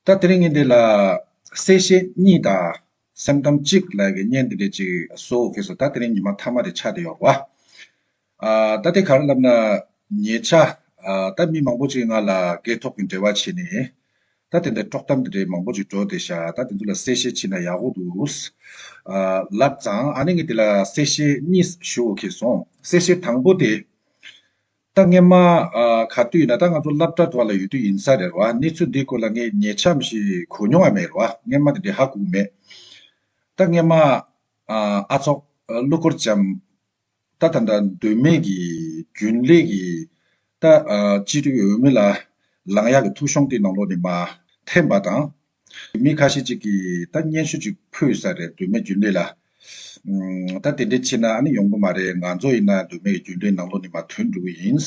ད་དེ་རིང་ངས་འདི་ལ། གསལ་བཤད་གཉིས་དང། སེམས་གཏམ་གཅིག་ལ་ཡི་གེ་བརྙན་འདི་འདྲ་ཅིག་བཟོ་འོ་གས་སོ་ད་དེ་རིང་ཉི་མ་མཐའ་མ་རེ་ཆགས་དེ་ཡོག་བ། ཨ། ད་དེ་ག་རེ་ལབ་ན། ཉེ་ཆ། ད་མི་མང་པོ་ཅིག་ང་ལ་སྐད་ཐོག་གི་འབྲེལ་བ་བྱས་ནས། ད་དེ་འདྲ་དཀྲོག་གཏམ་འདི་འདྲ་མང་པོ་ཅིག་བྲོ་དེ་ཤ་ད་དེ་ཚོ་ལ་གསལ་བཤད་བྱས་ན་ཡག་གོ་འདུག། ཨ། ལབ་ཙང་ཨ་ནི་ངས་འདི་ལ་གསལ་བཤད་གཉིས་ཞུ་འོ་གས་སོང་གསལ་བཤད་དང་པོ་དེ། ད་ངས་མ་ག་དུས་ན་ད་ང་ཚོ་སླབ་གྲ་དོག་ལ་ཡོད་དུས་ཡིན་ས་རེད་བ་གནས་ཚུལ་འདི་སྐོར་ལ་ངས་ཉེ་ཆམས་ཞིག་གོ་མྱོང་བ་མེད་རེད་བ་ངས་མ་དེ་འདྲའི་ཧ་གོ་མེད། ད་ངས་མ་ཨ་ཚོགས་གླུ་འཁོར་འཇམ་ད་ད་འདྲ་འདོད་མེད་ཀྱི་རྒྱུན་ལས་ཀྱི་ད་སྤྱི་འཐུས་འོས་མི་ལ་ལངས་ཡག་གི་ཐུགས་གཤོང་དེ་ནང་ལོག་ནས་མ་འཐེན་པ་དང། མི་ཁ་ཤས་ཅིག་གིས་ད་སྙན་ཞུ་ཅིག་ཕུལ་ས་རེད་འདོད་མེད་རྒྱུ་འབྲས་ལ། ད་དེ་འདྲས་ཕྱིན་ན་ཨ་ནི་ཡོང་གི་མ་རེད་ང་ཚོ་ཡིན་ན་འདོད་མེད་ཀྱི་རྒྱུ་འབྲས་ནང་ལོགས་ནས་མ་ཐོན་འགྲོ་གི་ཡིན།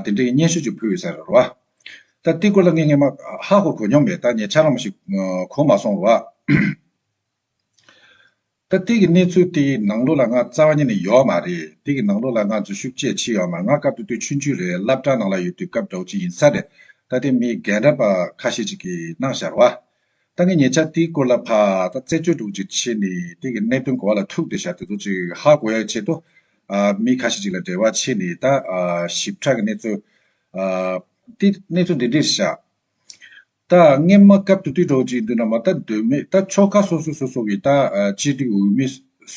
དེ་འདྲས་ཀྱི་སྙན་ཞུ་ཅིག་ཕུལ་ཡོད་ས་རེད་རོ། ད་ཏི་ཀོ་ལ་ངས་སྔས་མ་ཧ་གོ་གོ་མྱོང་མེད་ད་ངས་ཆ་ལང་མ་ཞིག་གོ་མ་སོང་རོ། ད་ལྟའི་གི་གནས་ཚུལ་དེ་ཡི་ནང་ལོ་ལ་ང་རྩ་བ་ཉིད་ནས་ཡོའོ་མ་རེད་དེ་གི་ནང་ལོ་ལ་ང་འཛུལ་ཞུགས་བཅས་ཕྱི་ཡོའོ་མ་ང་སྐབས་དེ་དུས་ཆུང་ཆུང་རེད་བླ་བྲང་ནང་ལ་ཡོད་དུས་སྐབས་འགྲོགས་ཅིག་ཡིན་ས་རེད་ད་ལྟའི་མི་རྒན་རབས་ཁ་ཤས་ཅིག་གི་སྣང་ཞར་བ། ད་ངས་ཉེ་ཆར་དེའི་སྐོར་ལ་ཕ་ད་རྩད་གཅོད་སྒྲུག་ཅིག་བྱས་ནས་དེ་གི་གནད་དོན་གོ་བ་ལ་ཐུག་དེ་ཞར་དེ་ཚོ་ཅིག་ཧ་གོ་ཡ་བྱེད་དོ། མི་ཁ་ཤས་ཅིག་ལ་འབྲེལ་བ་བྱས་ནས་ད་ཞིབ་ཕྲ་གི་གནས་ཚུལ། དེ་གནས་ཚུལ་འདི་འདྲིར་བཞག། རྟགས་སྔས་མ་སྐབས་དུ་དུས་གྲོགས་གཅིག་འདུ་ན་མ་རྟགས་འདོད་མོད་རྟགས་ཆོ་ག་སོ་སོ་སོ་སོ་གི་རྟགས་སྤྱི་ཏི་འོས་མི་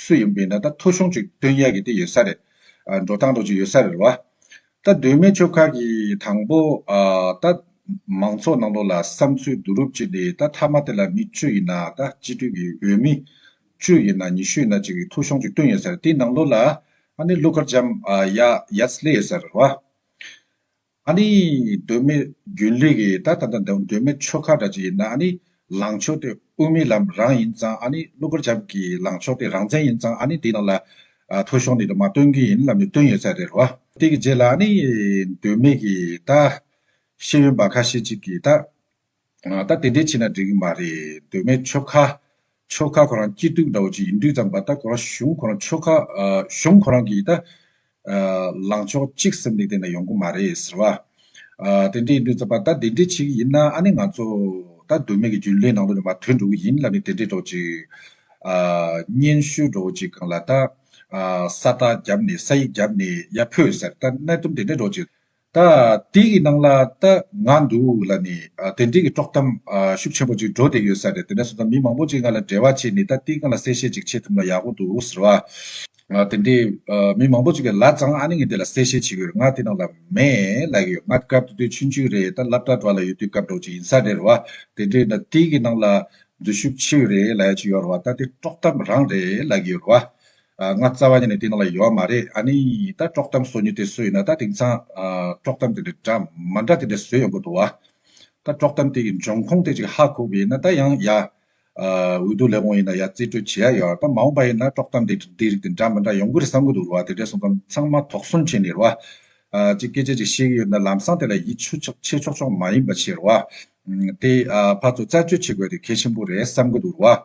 སུ་ཡིན་པའི་ན་རྟགས་ཐོ་གཞུང་གཅིག་དོན་ཡག་གི་དེ་ཡོད་ས་རེད། འགྲོ་སྟངས་དོགས་གཅིག་ཡོད་ས་རེད་བ། རྟགས་འདོད་མོད་ཆོལ་ཁ་གི་དང་པོ། རྟགས། མང་ཚོགས་ནང་དོགས་ལ་བསམ་ཚུལ་བསྡུ་རུབ་བྱས་ཏེ་རྟགས་མཐའ་མ་དེ་ལ་མི་བཅུ་ཡིན་ན་རྟགས་སྤྱི་ཏི་གི་འོས་མི། བཅུ་ཡིན་ན་ཉི་ཤུ་ཡིན་ན་གཅིག་གི་ཐོ་གཞུང་གཅིག་དོན་ཡོད་ས་རེད་དེའི་ནང་དོགས་ལ་ཨ་ནི་ཀླུ་མཁར་བྱམས་ཡ་ཡ་ཚ་ལེ་ཡོད་ས་རེད་བ། ཨཱ་ནི། གདོད་མའི་རྒྱུན་ལས་ཀྱི་ད་ད་ད་གདོད་མའི་ཆོ་ག་འདྲ་ཅིག་ཡིན་ན་ཨཱ་ནི། ལངས་ཕྱོགས་དེ་དབུ་མའི་ལམ་རང་ཡིན་ཙང་ཨཱ་ནི་གློ་བུར་རྒྱབ་ཀྱི་ལངས་ཕྱོགས་དེ་རང་བཙན་ཡིན་ཙང་ཨཱ་ནི་དེའི་ནང་ལ། ཐོ་གཞུང་འདི་དུ་མ་བཏོན་གྱི་ཡིན་ལབ་ནས་བཏོན་ཡོད་ཚད་རེད་རོ། དེ་གི་རྗེས་ལ་ཨཱ་ནི། གདོད་མའི་གི་ད། ཤེས་ཡོན་པ་ཁ་ཤས་ཅིག་གིས་ད། ད་དེ་འདྲའི་བྱས་ན་འགྲིག་གི་མ་རེད་དོན་མེད་ཆོལ་ཁ། ཆོལ་ཁ་ཁོ་རང་སྐྱིད་སྡུག་འདྲ་བོ་ཅིག་ཡིན་དུས་ཙམ་པ་ད་ཁོ་རང་གཞུང་ཁོ་རང་ཆོལ་ཁ། གཞུང་ཁོ་རང་གིས་ད། ལངས་ཕྱོགས་གཅིག་སེམས་གཏིང་ནས་ཡོང་གི་མ་རེད་ཟེར་བ། དེ་འདྲ་ཡིན་དུས་ཙམ་པ་ད་དེ་འདྲའི་བྱེད་ཀྱི་ཡིན་ན་ཨ་ནི་ང་ཚོ། ད་དོན་མེད་ཀྱི་རྒྱུན་ལས་ནང་དུ་ནས་མ་ཐོན་འགྲོ་གི་ཡིན་ལབ་ནས་དེ་འདྲའི་འགྲོ་བོ་ཅིག། སྙན་ཞུ་འགྲོ་བོ་ཅིག་གང་ལ་ད། ས་རྟགས་བརྒྱབ་ནས་ས་ཡིག་བརྒྱབ་ནས་ཡ་ཕོད་ཟེར་ད་གནད་དོན་དེ་འདྲའི་འགྲོ་བོ་ཅིག། ད་དེ་ཡི་ནང་ལ་ད་ང་འདུག་ལ་ནི་དེ་འབྲེལ་གྱི་དཀྲོག་གཏམ་ཤུགས་ཆེན་པོ་ཅིག་འགྲོ་བསྡད་ཡོད་ས་རེད་དེ་ནས་བཟུང་ད་མི་མང་པོ་ཅིག་ང་ལ་འབྲེལ་བ་བྱས་ནས་ད་དེ་གང་ལ་གསལ་བཤད་ཅིག་བྱེད་ཐུབ་ན་ཡག་པོ་འདུག་ཟེར་བ། དེ་འདྲའི་མི་མང་པོ་ཅིག་གིས་ལ་ཙང་ཨ་ནི་ངས་དེ་ལ་གསལ་བཤད་བྱེད་གི་རེད་ང་དེ་ནང་ལ་མེད་ལ་ཡོད་ང་སྐབས་དེ་དུས་ཆུང་ཆུང་རེད་ད་སླབ་གྲྭ་འགྲོ་ལ་ཡོད་དུས་སྐབས་འགྲོ་ཅིག་ཡིན་ས་རེད་རེད་བ། དེ་འདྲའི་ད་དེ་ཡི་ནང་ལ་འཛུལ་ཞུགས་ཆེ་ཡོད་རེད་ལ་ཡ་ཅིག་ཡོད་རེད་བ་ད་དེ་དཀྲོག་གཏམ་རང་རེད་ལ་ཡོད་རེད་བ། ང་རྩ་བ་ནས་དེ་ནང་ལ་ཡོད་མ་རེད་ཨ་ནི་ད་དཀྲོག་གཏམ་བཟོ་ཉུལ་དེ་བཟོས་ཡོད་ན་ད་དེང་སང་དཀྲོག་གཏམ་དེ་འདྲ་འདྲ་མ་འདྲ་དེ་འདྲ་བཟོས་ཡོང་གི་འདུག་བ། ད་དཀྲོག་གཏམ་དེ་གི་འབྱུང་ཁུངས་དེ་ཅིག་ཧ་གོ་གི་ཡིན་ན་ད་ཡང་ཡ། འོས་བསྡུ་ལས་དགོངས་ཡིན་ན་ཡ་རྩིས་སྤྲོད་བྱེད་ཡ་ཡོད་ད་མ་འོངས་པ་ཡིན་ན་དཀྲོག་གཏམ་དེ་འདི་རིགས་དེ་འདྲ་མི་འདྲ་ཡོང་གི་རེད་བསམ་གི་འདུག་བ་དེ་འདྲའི་སོང་ཙམ་ཚང་མ་དོགས་ཟོན་བྱས་ནས་རེད་བ། ཅིག་སྐད་ཆ་ཅིག་བཤད་གི་ཡོད་ན་ལམ་སང་དེ་ལ་ཡིད་ཆུ་ཆག་ཆེ་ཆོག་ཆོག་མ་ཡིན་པ་ཆེ་རེད་བ། དེ་ཕར་ཚུར་བརྩད་གཅོད་བྱེད་དགོས་དེ་གལ་ཆེན་པོ་རེད་བསམ་གི་འདུག་རེད་བ།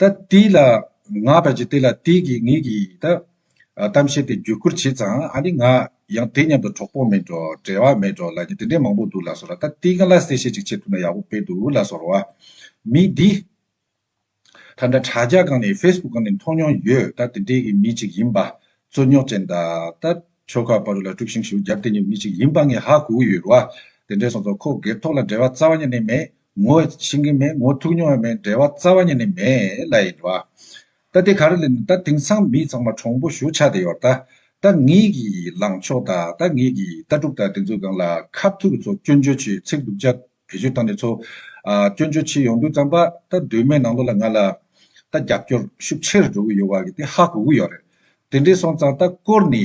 ད་ལྟའི་ལ་ང་བར་གྱི་དེ་ལ་དེ་གི་ངེད་ཀྱི་ད་གཏམ་བཤད་དེ་བརྒྱུད་བསྐུར་བྱས་ཙང་ཨ་ནི་ང་ཡང་དེ་མཉམ་དུ་གྲོགས་པོ་མེད་འགྲོ་བྲལ་བ་མེད་འགྲོ་ལ་ནི་དེ་འདྲའི་མང་པོ་འདུག་ལ་སོགས་ལ་ད་ལྟའི་ག་ལ་གསལ་བཤད་ཅིག་བྱེད་ཐུབ་ན་ཡག་པོ་དཔེ་འདུག་ལ་སོགས་རོ། མི་འདི། ད་ལྟ་དྲ་རྒྱ་སྒང་ནས facebook སྒང་ནས་མཐོང་མྱོང་ཡོད་ད་དེ་འདྲའི་གི་མི་ཅིག་ཡིན་པ། རྩོད་རྙོག་ཅན་ད་ད་ཁྱོ་ག་བ་རུ་ལ་དཀྲུགས་ཤིང་ཞུ་རྒྱབ་དེ་ཉིད་མི་ཅིག་ཡིན་པ་ངས་ཧ་གོ་གི་ཡོད་རོ། དེ་འདྲའི་སོང་ཙང་ཁོ་སྒེར་ཐོག་ལ་འབྲེལ་བ་རྩ་བ་ཉིད་ནས་མེད་ངོ་ཤེས་ཀྱི་མེད་ངོ་ཐུག་མྱོང་བ་མེད་འབྲེལ་བ་རྩ་བ་ཉིད་ནས་མེད་ལ་ཡིན། ད་དེ་ག་རེ་ལེན་ད་དེང་སང་མི་ཚང་མ་གྲོང་པོ་བཞུགས་ཆགས་དེ་ཡོད། ད་ངེད་ཀྱི་ལངས་ཕྱོགས་དང་ད་ངེད་ཀྱི་ལྟ་གྲུབ་དང་དེ་ཚོའི་སྒང་ལ་ཁ་ཐུག་གི་ཚོ་སྐྱོན་བརྗོད་བྱེད་ཚིག་སྡུག་ཅག་བེད་སྤྱོད་བཏང་ནས་ཚོ་སྐྱོན་བརྗོད་བྱེད་ཡོང་དུས་ཙམ་པ་ད་གདོད་མའི་ནང་ལོགས་ལ་ང་ལ་ད་རྒྱབ་སྐྱོར་ཤུགས་ཆེར་འགྲོ་གི་ཡོད་བ་གི་དེ་ཧ་གོ་གི་ཡོད་རེད་དེ་འདྲས་སོང་ཙང་ད་སྐོར་ནི་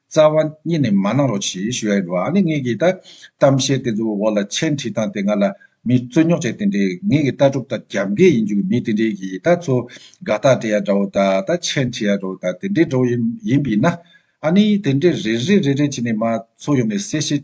རྩ་བ་གཉིས་ནས་མ་གནང་རོགས་ཞེས་ཞུ་ཡ་རོགས་ཨ་ནི་ངེད་ཀྱི་ད་གཏམ་བཤད་དེ་ཚོའི་འོག་ལ་མཆན་བྲིས་སྟངས་དེ་ང་ལ་མི་རྩོད་ཉོག་བྱས་དེ་འདྲས་ངེད་ཀྱི་ལྟ་གྲུབ་དང་རྒྱབ་འགལ་ཡིན་རྒྱུ་མི་དེ་འདྲས་ཀྱི་ད་ཚོ་དགའ་རྟགས་འབྲི་ཡ་འདྲ་བོ་དང་ད་མཆན་བྲིས་ཡ་འདྲ་བོ་དང་དེ་འདྲས་འདྲ་བོ་ཡིན་པས་ན་ཨ་ནི་དེ་འདྲས་རེ་རེ་རེ་རེ་བྱས་ནས་མ་ཚོ་ཡོང་ནས་གསལ་བཤད་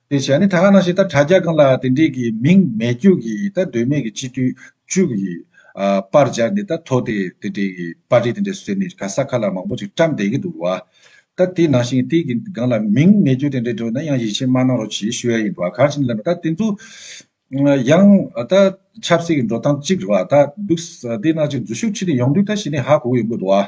དེ་བྱས་ནས་ད་ག་ནང་བཞིན་ད་དྲ་རྒྱ་གང་ལ་དེ་འདྲས་ཀྱི་མིང་མེད་རྒྱུག་གི་ད་དོན་མེད་ཀྱི་སྤྱི་འཐུས་བཅུ་གི་པར་སྦྱར་ནས་ད་ཐོ་དེ་དེ་འདྲས་ཀྱི་པར་རིས་དེ་འདྲས་ཟེར་ནས་ག་ས་ག་ལ་མང་པོ་ཅིག་བཀྲམས་བསྡད་ཀྱི་འདུག་བ། ད་དེ་ནང་བཞིན་དེ་གི་གང་ལ་མིང་མེད་རྒྱུག་དེ་འདྲས་འགྲོ་ན་ཡང་ཡིད་ཆེས་མ་གནང་རོགས་གྱིས་ཞུ་ཡ་ཡིན་འདུག་བ་གང་ཞིག་ལབ་ན་ད་དེ་ཚོ་ཡང་ད་ཆབ་སྲིད་ཀྱི་འགྲོ་སྟངས་གཅིག་རེད་བ་ད་འདུག་དེ་ནང་བཞིན་འཛུལ་ཞུགས་ཁྲིད་དེ་ཡོང་དུས་ད་གཞི་ནས་ཧ་གོ་གི་ཡོང་གི་འདུག་བ།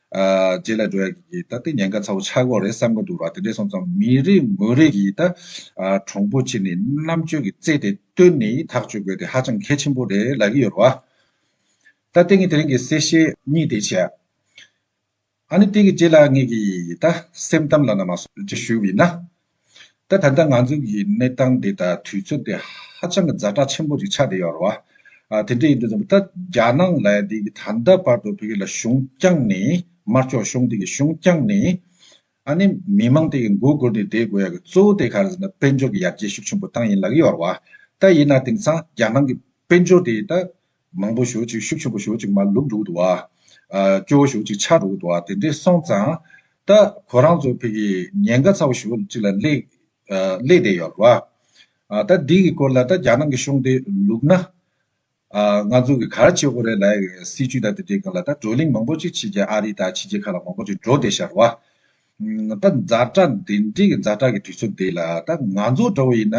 རྗེས་ལ་འགྲོ་ཡག་གི་ད་ལྟ་ཉེན་ཁ་ཚ་བོ་ཆགས་གོ་རེད་བསམ་གི་འདུག་ར་དེ་འདྲས་སོང་ཙང་མི་རེ་ངོ་རེ་གིས་ད་གྲོང་པོ་ཆེ་ནས་རྣམ་དཔྱོད་ཀྱི་རྩལ་དེ་བཏོན་ནས་ཐག་གཅོད་དགོས་དེ་ཧ་ཅང་གལ་ཆེན་པོ་རེད་ལབ་གི་ཡོད་རེད་བ། ད་དེ་ངས་དེ་རིང་གི་གསལ་བཤད་གཉིས་དེ་བྱས། ཨ་ནི་དེ་གི་རྗེས་ལ་ངེད་ཀྱིས་ད་སེམས་གཏམ་ལ་ན་མ་སོ་ཅིག་ཞུ་བས་ན། ད་ལྟ་ང་ཚོ་གི་གནས་སྟངས་འདི་དང་དུས་ཚོད་འདི་ཧ་ཅང་གི་རྫ་དྲག་ཆེན་པོ་རེད་ཆགས་བསྡད་ཡོད་རེད་བ། དེ་འདྲ་ཡིན་དུས་ད་ལྟ་རྒྱ་ནག་ལ་དེ་གི་ད་ལྟ་བར་དུ་བོད་ལ་གཞུང་བསྐྱངས་ནས་དམར་ཕྱོགས་གཞུང་དེ་གི་གཞུང་བསྐྱངས་ནས་ཨ་ནི་མི་དམངས་དེ་གི་མགོ་སྒུར་ནས་བསྡད་དགོས་ཡ་གི་གཙོ་བོ་དེ་ག་རེ་ཟེར་ན་དཔལ་འབྱོར་གི་ཡར་རྒྱས་ཤུགས་ཆེན་པོ་བཏང་ཡིན་ལག་གི་ཡོད་རེད་བ། ད་ཡིན་ན་དེང་སང་རྒྱ་ནང་གི་དཔལ་འབྱོར་དེ་ད་མང་པོ་ཞོ་ཅིག་ཤུབ་ཤུབ་པོ་ཞོ་ཅིག་མ་ལུག་འདུག་འདུག། སྐྱོ་བོ་ཞོ་ཅིག་ཆག་འདུག་འདུག་དེ་འདྲས་སོང་ཙང། ད་ཁོ་རང་ཚོ་ཕེ་གི་ཉེན་ཁ་ཚ་བོ་ཞོ་ཅིག་ལ་སླེབས་བསྡད་ཡོད་རེད་བ། ད་འདི་གི་སྐོར་ལ་ད་རྒྱ་ནག་གི་གཤོང་དེ་ལུག་ན། ང་ཚོ་གི་གར་བྱེད་ཁོ་རེ་ལ་སྲིད་ཇུས་དང་དེ་འདྲས་གང་ལ་ད་བགྲོ་གླེང་མང་པོ་ཅིག་བྱེད་ཀྱང་ཨ་རི་དང་ཕྱི་རྒྱལ་ཁག་ལ་མང་པོ་ཅིག་འགྲོ་བསྡད་ཤག་རེད་བ། ད་མཛའ་གྲགས་འདི་འདྲས་ཀྱི་མཛའ་གྲགས་ཀྱི་དུས་ཚོད་འདི་ལ་ད་ང་ཚོ་འདྲ་བོ་ཡིན་ན་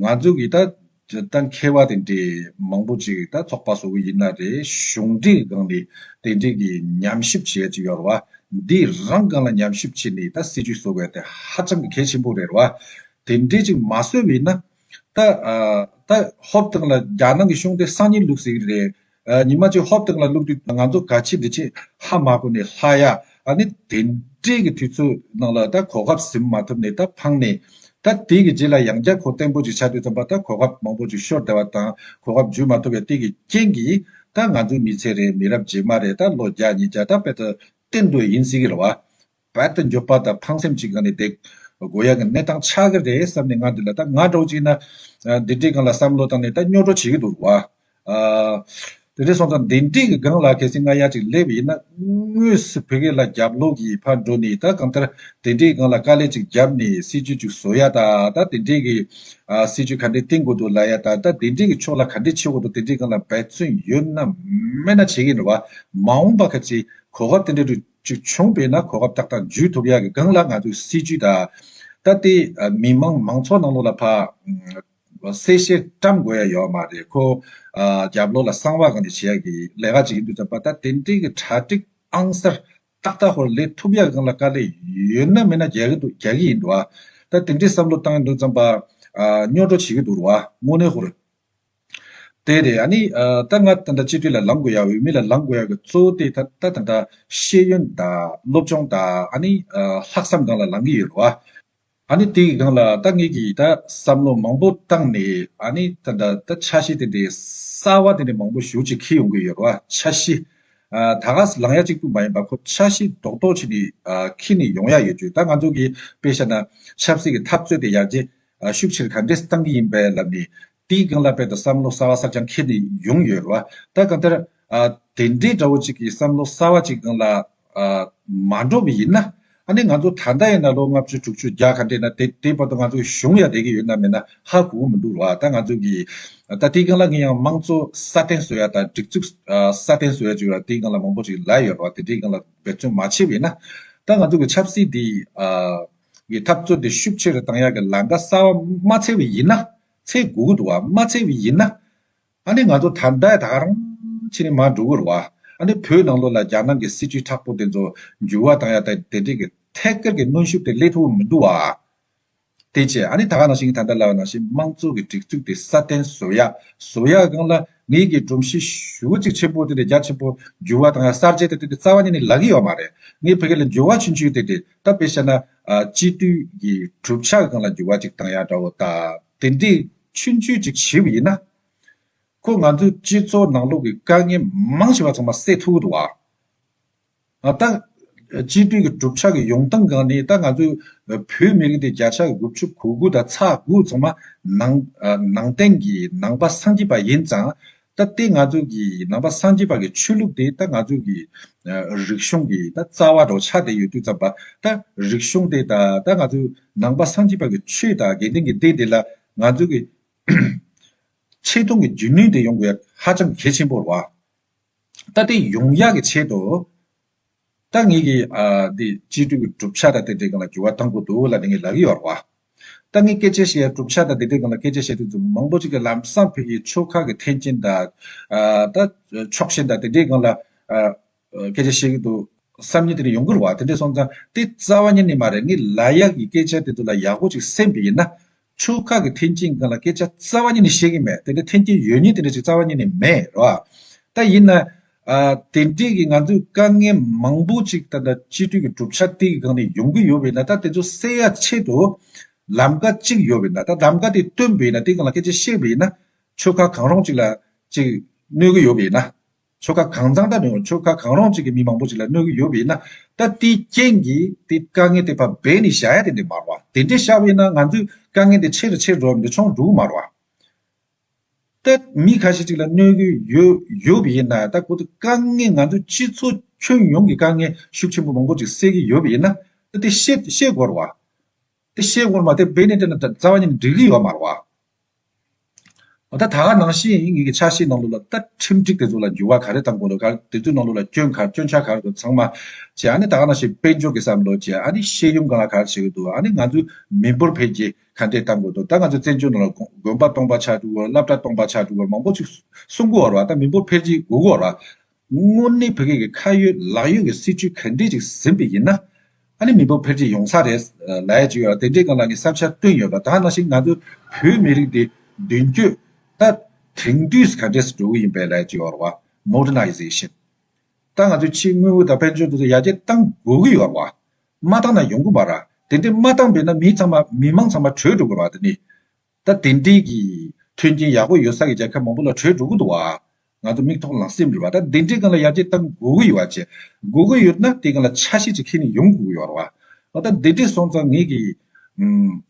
ང་ཚོ་གི་ད། ད་མཁས་པ་དེ་འདྲས་མང་པོ་ཅིག་ད་ཚོགས་པ་བཟོ་གི་ཡིན་ན་རེད་གཞུང་སྒྲིག་སྒང་ནས་དེ་འདྲས་ཀྱི་ཉམས་ཞིབ་བྱེད་ཡ་ཅིག་ཡོད་རེད་བ། འདི་རང་སྒང་ལ་ཉམས་ཞིབ་བྱེད་ནས་ད་སྲིད་ཇུས་བཟོ་དགོས་དེ་ཧ་ཅང་གི་གལ་ཆེན་པོ་རེད་བ། དེ་འདྲས་ཅིག་མ་བཟོས་བས་ན། ད། ཧོབ་ཐང་ལ་རྒྱ་ནང་གི་གཞུང་དེ་སང་ཉིན་ལུགས་ཟིག་རེད། ཉི་མ་གཅིག་ཧོབ་སྟེང་ལ་བླུགས་དུས་ང་ཚོ་ག་ཕྱི་འདི་ཕྱི་ཧ་མ་གོ་ནས་ལྷ་ཡ། ཨ་ནི་དེ་འདྲས་ཀྱི་དུས་ཚོད་ནང་ལ་ད་གོ་སྐབས་ཟིན་མ་ཐུབ་ནས་ད་ཕངས་ནས། ད་དེ་གི་རྗེས་ལ་ཡང་བསྐྱར་གོ་བརྟན་པོ་ཅིག་བྱ་དུས་ཙམ་པ་ད་གོ་སྐབས་མང་པོ་ཅིག་ཤོར་བསྡད་པ་དང་གོ་སྐབས་འཇུས་མ་ཐུབ་པའི་སྟེང་གི་རྐྱེན་གྱིས་ད་ང་ཚོའི་མི་ཚེ་རེ་མི་རབས་རྗེས་མ་རེ་ད་ལོ་བརྒྱ་ཉིས་བརྒྱ་ད་དཔེ་ལྟར་བསྟེན་འདོད་ཡིན་སྲིད་གི་རེད་བ། བལ་དུ་འབྱོར་པ་དང་ཕངས་སེམས་ཅི་གང་ནས་བསྡད། དགོས་ཡག་གི་གནས་སྟངས་ཆགས་ཀྱི་རེད་བསམ་ནས་ང་འདི་ལ་ད་ང་འགྲོ་ཅིག་ན། འདི་འདྲའི་སྒང་ལ་བསམ་བློ་བཏང་ནས་ད་སྨྱོ་འགྲོ་བྱེད་ཀྱི་འདུག་བ། དེ་འདྲས་སོང་ཙང་འདི་འདྲིས་ཀྱི་སྒང་ལ་གལ་སྲིད་ང་ཡར་ཅིག་སླེབས་ཡིན་ན། དངོས་སུ་བོད་སྐད་ལ་རྒྱབ་ལོག་གིས་ཕར་འགྲོ་ནས་ད་གང་ལྟར་འདི་འདྲའི་སྒང་ལ་དཀའ་ལས་ཅིག་རྒྱབ་ནས་སྲིད་ཇུས་ཅིག་བཟོ་ཡ་ད་ད་འདི་འདྲས་ཀྱི། སྲིད་ཇུས་ག་འདྲས་བཏིང་དགོས་འདུག་ལ་ཡ་ད་ད་འདི་འདྲས་ཀྱི་ཕྱོགས་ལ་ག་འདྲས་བྱེད་འོ་འདུག་འདི་འདྲའི་སྒང་ལ་འབད་བརྩོན་ཡོད་ན་མེད་ན་བྱེད་ཀྱི་འདུག་བ། མ་འོངས་པ་གལ་སྲིད་གོ་སྐབས་དེ་འདྲས་འགྲུབ། ཅིག་བྱུང་བས་ན་གོ་སྐབས་ཏག་ཏག་འཇུས་ཐུབ་ཡག་གི་སྒང་ལ་ང་ཚོས་སྲིད་ཇུས་དང། ད་ལྟའི་མི་དམངས་མང་ཚོགས་ནང་ལོགས་ལ་ཕ། གསལ་བཤད་བཀྲམ་དགོས་ཡ་ཡོད་མ་རེད་ཁོ། རྒྱབ་ལོགས་ལ་གསང་བ་གང་ནས་བྱེད་ཡག་གི་ལས་ཀ་ཅིག་ཡིན་འདུག་ཙམ་པ་ད་དེ་འབྲེལ་གྱི་གྲ་སྒྲིག་ཨང་གསར་ཏག་ཏག་ཧོར་ལེ་ཐུབ་ཡག་གི་སྒང་ལ་དཀའ་ལས་ཡོད་ན་མེད་ན་རྒྱག་གི་འདུག་རྒྱག་གི་ཡིན་འགྲོ་བ། ད་དེ་འདྲའི་བསམ་བློ་བཏང་གི་འདུག་ཙམ་པ། སྨྱོ་སྒྲོ་བྱེད་ཀྱི་འདུག་རོ་བ་དངོས་གནས་ཧོར། དེ་རེད་ཨ་ནི། ད་ང་དང་འདྲ་སྤྱི་འཐུས་ལ་ལངས་དགོས་ཡ་འོས་མི་ལ་ལངས་དགོས་ཡ་གི་གཙོ་བོ་དེ་ད་དང་འདྲ་ཤེས་ཡོན་དང་སློབ་སྦྱོང་དང་ཨ་ནི། ལྷག་བསམ་སྒང་ལ་ལངས་གི་ཡོད་རེད་བ། ཨ་ནི་དེ་གི་སྒང་ལ་ད་ངེད་ཀྱིས་ད་བསམ་བློ་མང་པོ་བཏང་ནས་ཨ་ནི་ད་འདྲ་ད་ཆ་ཤེས་དེ་འདྲའི་གསར་བ་དེ་འདྲའི་མང་པོ་ཞུ་ཅིག་ཁེལ་ཡོང་གི་ཡོད་རེད་བ་ཆ་ཤི། ད་ག་ས་ལངས་ཡ་གཅིག་པུ་མ་ཡིན་པ་ཁོ་ཆ་ཤི་རྡོག་རྡོག་བྱས་ནས་ཁེལ་ནས་ཡོང་ཡ་ཡོད་རྒྱུ་ད་ང་ཚོ་གི་དཔེ་ཤ་ན་ཆབ་སྲིད་ཀྱི་འཐབ་རྩོད་དེ་ཡར་རྒྱས་ཤུགས་ཆེར་ག་འདྲས་བཏང་གི་ཡིན་པའི་ལབ་ནས། དེའི་སྒང་ལ་དཔལ་དུ་བསམ་བློ་གསར་བ་གསར་རྐྱང་འཁྱེར་ནས་ཡོང་ཡོད་རེད་བ། ད་གང་ལྟར། དེ་འདྲའི་དགྲ་བོ་གཅིག་གི་བསམ་བློ་གསར་བ་གཅིག་སྒང་ལ་མ་འགྲོ་བ་ཡིན་ན། ཨ་ནི་ང་ཚོ་ད་ལྟ་ཡིན་ན་ལོ་ལྔ་བཅུ་དྲུག་ཅུ་བརྒྱ་ག་འདས་ན་དེ་དེའི་བར་དུ་ང་ཚོའི་གཞུང་ཡང་བསྡད་ཀྱི་ཡོད་ན་མེད་ན་ཧ་གོ་གི་མི་འདུག་རེད་བ། ད་ང་ཚོ་གི། ད་དེའི་སྒང་ལ་ངས་ཡང་དམངས་གཙོ་སྲ་བརྟན་བཟོ་ཡ་དང་སྒྲིག་འཛུགས་སྲ་བརྟན་བཟོ་ཡ་བརྗོད་ཡོད་ར་དེའི་སྒང་ལ་མང་པོ་ཞིག་ལབ་ཡོད་རེད་བ། དེ་འདྲའི་སྒང་ལ་འབད་བརྩོན་མ་བྱས་བས་ན། ད་ང་ཚོ་གི་ཆབ་སྲིད་འདི། གི་འཐབ་རྩོད་དེ་ཤུགས་ཆེ་རུ་བཏང་ཡག་གི་ལང་ཀ་གསར་བ་མ་འཚལ་བའི་ཡིན་ན། ཚེ་དགུ་གུ་དུ་བ་མ་འཚལ་བའི་ཡིན་ན། ཨ་ནི་ང་ཚོ་ད་ལྟ་ད་རང་ཕྱི་ནས་མར་འགྲོ་གི་རུ་བ། ཨ་ནི་བོད་ནང་ལོ་ལ་རྒྱ་ནག་གི་སྲིད་ཇུས་ཁྲག་པོ་དེ་ཚོ་འགྱུར་བ་བཏང་ཡག་དེ་འདྲས་གི་ཐད་སྐར་གི་གནོན་ཤུགས་དེ་ལས་མཐོ་བ་མི་འདུག་བ། དེ་བྱས་ཨ་ནི་ད་ག་ནང་བཞིན་གི་ད་ལྟ་ལ་ནང་བཞིན་དམངས་གཙོ་གི་སྒྲིག་འཛུགས་དེ་སྲ་བརྟན་བཟོ་ཡག་བཟོ་ཡག་གང་ལ་ངེས་ཀྱི་སྒྲོམ་གཞི་ཞུ་བ་གཅིག་ཆེན་པོ་དེ་དེ་རྒྱ་ཆེན་པོ་འགྱུར་བ་བཏང་ཡག་གསར་བརྗེ་དེ་དེ་རྩ་བ་ཉིད་ནས་ལག་གི་ཡོད་མ་རེད་ངས་བོད་སྐད་ལ་འགྱུར་བ་ཆུན་ཆུན་དེ་དེ་བལྟ་བས་ཤེས་ན། སྤྱི་བཏུལ་གྱི་གྲུབ་ཆ་གང་ལ་འགྱུར་བ་ཅིག་བཏང་ཡང་འདྲ་བོ་ལྟ། དེ་འདྲའི་ཆུ་འཛུལ་ཅིག་བྱས་པ་ཡིན་ན། ཁོས་ང་ཚོའི་སྤྱི་ཚོགས་ནང་ལོག་གི་དཀའ་ངལ་མང་ཆེ་བ་ཚང་མ་བསལ་ཐུབ་འགྲོ་བ། ད། སྤྱི་བཏུལ་གྱི་གྲུབ་ཆ་གི་ཡོང་སྟངས་གང་ནི་ད་ང་ཚོའི་བོད་མི་རིགས་འདི་བརྒྱ་ཆ་དགུ་བཅུ་གོ་དགུ་དང་ཚ་དགུ་ཚང་མ་ནང་བསྟན་གྱི་ནང་པ་སངས་རྒྱས་པ་ཡིན་ཙང། ད་ལྟའི་ང་ཚོ་གི་ནང་པ་སངས་རྒྱས་པ་གི་ཆོས་ལུགས་དེ་ད་ང་ཚོ་གི་རིག་གཞུང་གི་ད་རྩ་བ་འདྲོགས་ཆགས་དེ་ཡོད་དུས་ཙམ་པ་ད་རིག་གཞུང་དེ་དང་ད་ང་ཚོ་ནང་པ་སངས་རྒྱས་པ་གི་ཆོས་དང་དགེ་ལྡན་གི་སྡེ་འདི་ལ་ང་ཚོ་གི་ཆེ་མཐོང་གི་འཇོན་ནུས་དེ་ཡོང་དགོས་ཧ་ཅང་གལ་ཆེན་པོར་བ། ད་དེ་ཡོང་ཡག་གི་ཆེད་དུ། ད་ངེད་ཀྱི་དེ་སྤྱི་འཐུས་ཀྱི་གྲུབ་ཆ་དང་དེ་འབྲེལ་གང་ལ་འགྱུར་བ་གཏང་དགོས་འདུག་ལ་དེ་ངེད་ལབ་ཀྱི་ཡོད་རེད་བ། ད་ངེད་སྐད་ཆ་བཤད་གྲུབ་ཆ་དང་དེ་འབྲེལ་གང་ལ་སྐད་ཆ་བཤད་དུས་འཛུམ་མང་པོ་ཅིག་གིས་ལམ་སང་བོད་ཀྱི་ཆོལ་ཁ་གི་ཐེན་ཅིན་དང། ད་ཕྱོགས་ཞེན་དང་དེ་འབྲེལ་གང་ལ་སྐད་ཆ་བཤད་ཀྱི་འདུག་བསམ་ཉིན་དེ་ནས་ཡོང་གི་རེད་བ། དེ་འདྲས་སོང་ཙང་དེ་རྩ་བ་ཉིན་ནས་མ་རེད་ངེད་ལ་ཡག་གི་སྐད་ཆ་དེ་ཚོ་ལ་ཡག་པོ་ཅིག་སེམས་པ་ཡིན་ན་ཆོལ་ཁ་གི་འཐེན་འཁྱེར་འགའ་ལ་སྐད་ཆ་རྩ་བ་ཉིད་ནས་བཤད་ཀྱི་མེད་དེ་འདྲའི་འཐེན་འཁྱེར་ཡོད་ཉེས་དེ་འདྲ་ཞིག་རྩ་བ་ཉིད་ནས་མེད་རེད་བ། ད་ཡིན་ན། དེ་འདྲས་ཀྱི་ང་ཚོས་དཀའ་ངལ་མང་པོ་ཅིག་ད་ལྟ་སྤྱི་འཐུས་ཀྱི་གྲུབ་ཆ་སྟེགས་ཀྱི་སྒང་ནས་ཡོང་གི་ཡོད་པས་ན་ད་དེ་ཚོ་སེལ་ཡ་ཆེད་དུ། ལམ་ཀ་གཅིག་ཡོད་པས་ན་ད་ལམ་ཀ་དེ་བཏོན་པས་ན་དེ་སྒང་ལ་སྐད་ཆ་བཤད་པས་ན། ཆོལ་ཁ་གང་རུང་ཅིག་ལ་ཅིག་གནོད་ཀྱི་ཡོད་པས་ན། ཆོལ་ཁ་གང་གཙང་སྦྲ་རེང་ཆོལ་ཁ་གང་རོང་གཅིག་གི་མི་མང་པོ་ཅིག་ལ་གནོད་གི་ཡོད་པའི་ན་ད་དེའི་རྐྱེན་གྱིས་དེ་དཀའ་ངལ་དེ་ཕར་བས་ནས་ཤ་ཡ་དེ་འདྲས་མར་བ་དེ་འདྲས་ཤ་བས་ན་ང་ཚོའི་དཀའ་ངལ་དེ་ཆེ་རུ་ཆེ་རུ་འགྲོ་བས་འདྲས་ཆོང་འགྲུག་མར་བ། ད་མི་ཁ་ཤས་ཅིག་ལ་གནོད་གི་ཡོད་པའི་ན་ད་གོ་ད་དཀའ་ངལ་ང་ཚོའི་སྤྱི་ཚོ་ཁྱོན་ཡོངས་ཀྱི་དཀའ་ངལ་ཤུགས་ཆེན་པོ་མང་པོ་ཅིག་སེལ་གི་ཡོད་པའི་ན་ད་དེ་ཤེས་དགོར་བ། དེ་བཤད་ངོར་མ་དེ་སྦས་ནས་བལྟས་ན་རྩ་བ་ཉིད་ནས་འགྲིག་གི་ཡོད་མ་རེད། མ་ད་ད་ག་ནང་བཞིན་ཡིན་ངེས་ཀྱི་ཆ་ཤས་ནང་ལུགས་ལ་ལྟ་ཁྲིམས་སྒྲིག་དེ་ཚོ་ལ་འགྱུར་བ་ག་རེ་གཏང་དགོས་ལོ་ག་དེ་ཚོའི་ནང་ལུགས་ལ་སྐྱོན་ག་སྐྱོན་ཆ་ག་རེ་དགོས་ཚང་མ་བྱས་ཨ་ནི་ད་ག་ནང་བཞིན་དཔལ་འབྱོར་གྱི་བསམ་བློ་བྱས་ཨ་ནི་ཤེས་ཡོན་གང་ལ་ག་རེ་བྱེད་ཀྱི་འདུག་ཨ་ནི་ང་ཚོའི་མི་འབོར་འཕེལ་རྒྱས་ག་འདྲས་གཏང་དགོས་འདུག་ད་ང་ཚོའི་བཙན་བྱོལ་ནང་ལ་དགོན་པ་སྟོང་པ་ཆགས་འགྲོ་གི་འོར་བླ་བྲ་སྟོང་པ་ཆགས་འགྲོ་གི་འོར་མང་པོ་ཅིག་སྲུང་གི་འོར་བ་ད་མི་འབོར་འཕེལ་རྒྱས་དགོས་གི་འོར་བ་དངོས་གནས་བོད་སྐད་ཀྱི་ཁ་ཡོད་ལག་ཡོད་ཀྱི་སྲིད་བྱུས་ག་འདྲས་ཅིག་ཟིན་པ་ཡིན་ན། ཨ་ནི་མི་འབོར་འཕེལ་རྒྱས་ཡོང་ས་རེད་ལ་ཡ་ཅིག་ཡོད་ལ་དེ་འདྲའི་སྒང་ལ་ངས་བསམ་འཆར་བཏོན་ཡོད་པ་དག་ནང་བཞིན་ང་ཚོ་བོད་མི་རིགས་འདི་མདུན་བསྐྱོད་ད་དེང་དུས་སུ་ག་འདྲས་སུ་འགྲོ་གི་ཡིན་པའི་ལ་ཡ་ཅིག་ཡོད་བ Modernization ད་ང་ཚོའི་ཕྱིའི་དངུལ་དངོས་དང་དཔལ་འབྱོར་འདི་ཚོ་ཡར་རྒྱས་གཏང་དགོས་ཀྱི་ཡོད་བ། མ་གཏང་ན་ཡོང་གི་མ་ར་དེ་འདྲས་མ་གཏང་པས་ན་མི་ཚང་མ་མི་མང་ཚང་མ་བྲོས་འགྲོ་གི་ར་ད་ནི། ད་དེ་འདྲས་ཀྱི་མཐུན་རྐྱེན་ཡག་པོ་ཡོད་ས་ཀྱི་རྒྱལ་ཁབ་མང་པོ་ལ་བྲོས་འགྲོ་གི་འདུག་བ། ང་ཚོ་མིག་ཐོག་ལག་སེམས་རེད་བ་ད་དེ་འདྲས་གང་ལ་ཡར་རྒྱས་གཏང་དགོས་ཀྱི་ཡོད་བ། བྱེད་དགོས་ཀྱི་ཡོད་ན་དེ་གང་ལ་ཆ་ཤས་ཅིག་ཁེལ་ནས་ཡོང་དགོས་ཀྱི་ཡོད་བ། ད་དེ་འདྲས་སོང་ཙང་ངེད་ཀྱིས།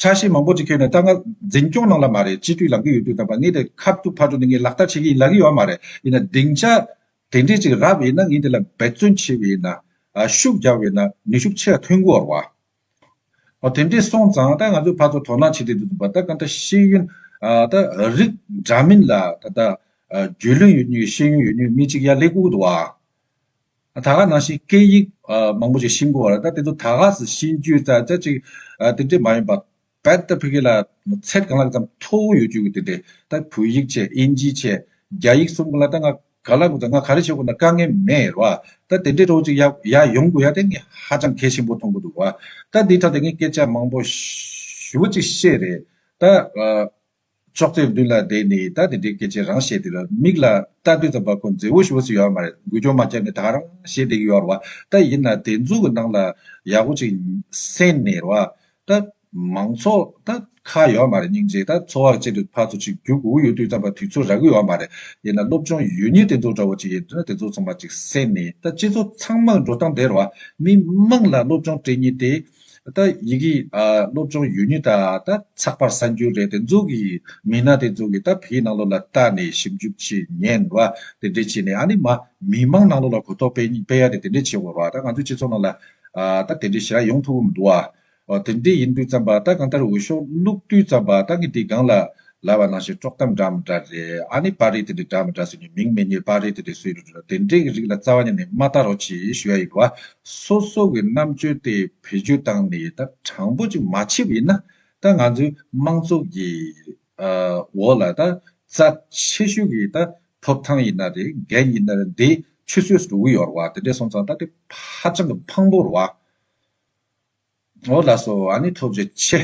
ཆ་ཤས་མང་པོ་ཅིག་ཁེལ་ནས་ད་ང་འཛིན་སྐྱོང་གནང་ལ་མ་རེད་སྤྱི་འཐུས་ལང་གི་ཡོད་དུས་ད་བ་ངེད་དེ་ཁ་ཐུག་ཕར་འགྲོ་དེ་ངེད་ལག་བསྟར་བྱེད་ཀྱི་ཡིན་ལབ་ཀྱི་ཡོད་མ་རེད་ཡིན་ན་སྡིངས་ཆ་དེ་འདྲས་ཅིག་རག་བས་ན་ངེད་དེ་ལ་འབད་བརྩོན་བྱས་བས་ན། ཤུགས་རྒྱག་བས་ན་ནུས་ཤུགས་ཆེ་ར་ཐོན་གི་ཡོད་བ། དེ་འདྲས་སོང་ཙང་ད་ང་ཚོས་ཕར་ཚུར་དོ་སྣང་བྱེད་དུས་འདུག་པ་ད་གང་ལྟར་ཤེས་ཡོན་ད་རིགས་འདྲ་མིན་ལ་ད་ལྟ་རྒྱུས་ལོན་ཡོད་ནུས་ཤེས་ཡོན་ཡོད་ནུས་མི་གཅིག་ཡ་ལེ་ཁུག་འདུག་ཨ། ད་ག་ནང་བཞིན་སྐད་ཡིག་མང་པོ་ཞིག་ཤེས་དགོས་བ་རེད་ད་དེ་ཚོ་ད་ག་ཟེར་ཤེས་རྒྱུ་ད་ཅག་ཅིག་དེ་འདྲས་མ་ཡིན་པ། བོད་དང་ཕི་གི་ལ་ཚད་གང་ལགས་ཙམ་མཐོ་བོ་ཡོད་རྒྱུ་གི་དེ་ད་བོད་ཡིག་ཆད་ཨིན་ཇིའི་ཆད་རྒྱ་ཡིག་གསུམ་གི་ལ་ད་ང་ག་ལ་དགོས་ད་ང་ག་རེ་བྱེད་དགོས་ད་དཀའ་ངལ་མེད་རོ་ད་དེ་འདྲའི་རོགས་ཅིག་ཡ་ཡོང་དགོས་ཡ་དེ་ངས་ཧ་ཅང་གལ་ཆེན་པོ་མཐོང་གི་འདུག་བ་ད་འདི་ད་དེ་ངས་སྐད་ཆ་མང་པོ་ཞུ་བ་ཅིག་བཤད་རེད་ད། ཅོག་ཙེའི་མདུན་ལ་བསྡད་ནས་ད་དེ་འདྲའི་སྐད་ཆ་རང་བཤད་དེ་ལ་མིག་ལ་ལྟ་དུས་ཙམ་པ་ཁོ་མཛེ་བོ་ཞེ་བོ་ཟིག་ཡོད་མ་རེད་འགུལ་སྐྱོད་མ་བརྒྱབ་ནས་ད་རང་བཤད་བསྡད་ཀྱི་ཡོད་རེད་ད་ཡིན་ན་དེ་འཛུགས་ཀྱི་ནང་ལ་ཡག་པོ་ཅིག་གསན་ནས་རེད་ད་མང་ཚོགས་ད་ཁ་ཡོད་མ་རེད་སྙིང་རྗེ་ད་འཚོ་བ་ཅེས་པའི་ཕར་ཚུར་ཅིག་རྒྱུག་དགོས་ཀྱི་ཡོད་དུས་ཙམ་པ་དུས་ཚོད་རག་གི་ཡོད་མ་རེད་ཡིན་ན་སློབ་སྦྱོང་ཡུལ་ཉེས་དེ་ཚོ་འདྲ་བོ་ཅིག་ཡིན་དུས་ན་དེ་ཚོ་ཚང་མ་ཅིག་གསན་ནས་ད་སྤྱི་ཚོགས་ཚང་མ་འགྲོ་སྟངས་དེ་རེད་མི་དམངས་ལ་སློབ་སྦྱོང་སྤྲད་ཉིན་དེ། ད་ཡི་གེ་སློབ་སྦྱོང་ཡུལ་ནི་ད་ད་ཚགས་པར་གསར་འགྱུར་རེད་དེ་ཚོ་གི་མི་སྣ་དེ་ཚོ་གི་ད་བེའི་ནང་ལོགས་ལ་ལྟ་ནས་ཞིབ་འཇུག་བྱེད་ཉན་བ་དེ་འདྲས་བྱེད་ནས་ཨ་ནི་མ་མི་དམངས་ནང་ལོགས་ལ་གོ་རྟོགས་སྤེལ་སྤེལ་ཡ་དེ་དེ་འདྲས་བྱེད་དགོས་རོགས་ཨ་ད་ང་ཚོའི་སྤྱི་ཚོགས་ནང་ལ་ད་དེ་འདྲས་བྱེད་ར་ཡོང་ཐུབ་པོ་མི་འདུག་བ། དེ་འདྲས་ཡིན་དུས་ཙམ་པ་ད་གང་ལྟར་འོས་ཤོག་བླུགས་དུས་ཙམ་པ་ད་ངས་དེ་སྒང་ལ་ལ་བ་ནང་བཞིན་དཀྲོག་གཏམ་འདྲ་མི་འདྲ་རེད་ཨ་ནི་པར་རིས་དེ་འདྲའི་འདྲ་མི་འདྲ་ཟེར་ནས་མིང་མི་རྙེད་པར་རིས་དེ་འདྲའི་སུའི་རེད་འདྲ་རེད་དེ་འདྲའི་གི་རིགས་ལ་རྩ་བ་ཉིད་ནས་མ་ལྟ་རོགས་གྱིས་ཞུ་ཡ་ཡིན་བ། སོ་སོ་གི་རྣམ་དཔྱོད་དེ་བེད་སྤྱོད་བཏང་ནས་ད་དྲང་པོ་ཅིག་མ་བྱས་པ་ཡིན་ན་ད་ང་ཚོའི་དམངས་གཙོ་གི་འོག་ལ་ད་རྩ་ཆེ་ཤོས་ཀྱི་ད་ཐོབ་ཐང་ཡིན་ན་རེད་འགན་ཡིན་ན་རེད་འདི་ཆུད་ཟོས་སུ་འགྲོ་གི་ཡོད་རེད་བ་དེ་འདྲས་སོང་ཙང་ད་དེ་ཧ་ཅང་གི་ཕངས་པོ་རེད་བ། འོ་ལགས་སོ་ཨ་ནི་ཐོབ་བྱས་ཆེ།